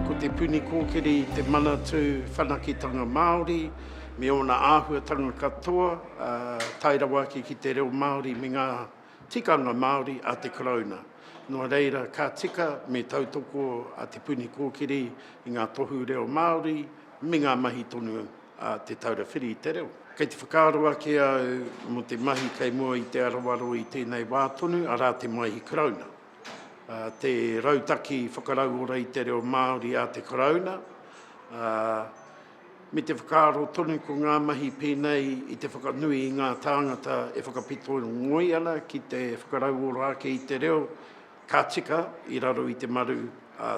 Ko Te Puni Kōkiri te manatū whanaketanga Māori me ōna āhuatanga katoa, tae rawa ake ki te reo Māori me ngā tikanga Māori a te Karauna. Nō reira, ka tika me tautoko a Te Puni Kōkiri i ngā tohu reo Māori me ngā mahi tonu a Te Taura Whiri i te Reo. Kei te whakaaro ake au mō te mahi kei mua i te arawaro i tēnei wā tonu, arā te Maihi Karauna. Te rautaki whakarauora i te reo Māori a te Karauna, me te whakaaro tonu ko ngā mahi pēnei i te whakanui i ngā tāngata e whakapito ngoi ana ki te whakarauora ake i te reo, Ka tika i raro i te maru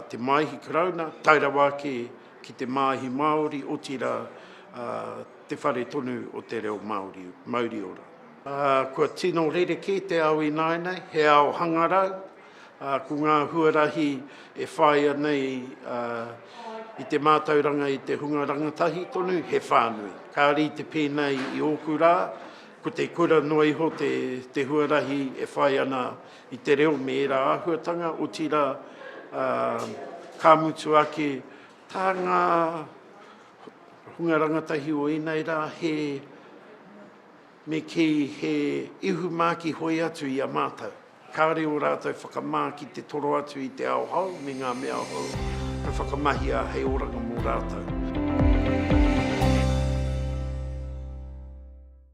te Māihi Karauna, tae rawa ake ki te Māihi Māori, otirā te whare tonu o te reo Māori. Mauri ora. Kua tino rerekē te ao ināianei, he ao hangarau, ko ngā huarahi e whāia nei i te mātauranga i te hunga rangatahi tonu, he whānui. Ka rite pēnei i ōku rā, ko te kura noa iho te huarahi e whai ana i te reo me ērā āhuatanga, otirā, ka mutu ake, tā ngā hunga rangatahi o ēnei rā, he, me kī, he ihumā ki hoi atu i a mātou. Kāore ō rātou whakamā ki te toro atu i te ao hou me ngā mea hou ka whakamahia hei oranga mō rātou.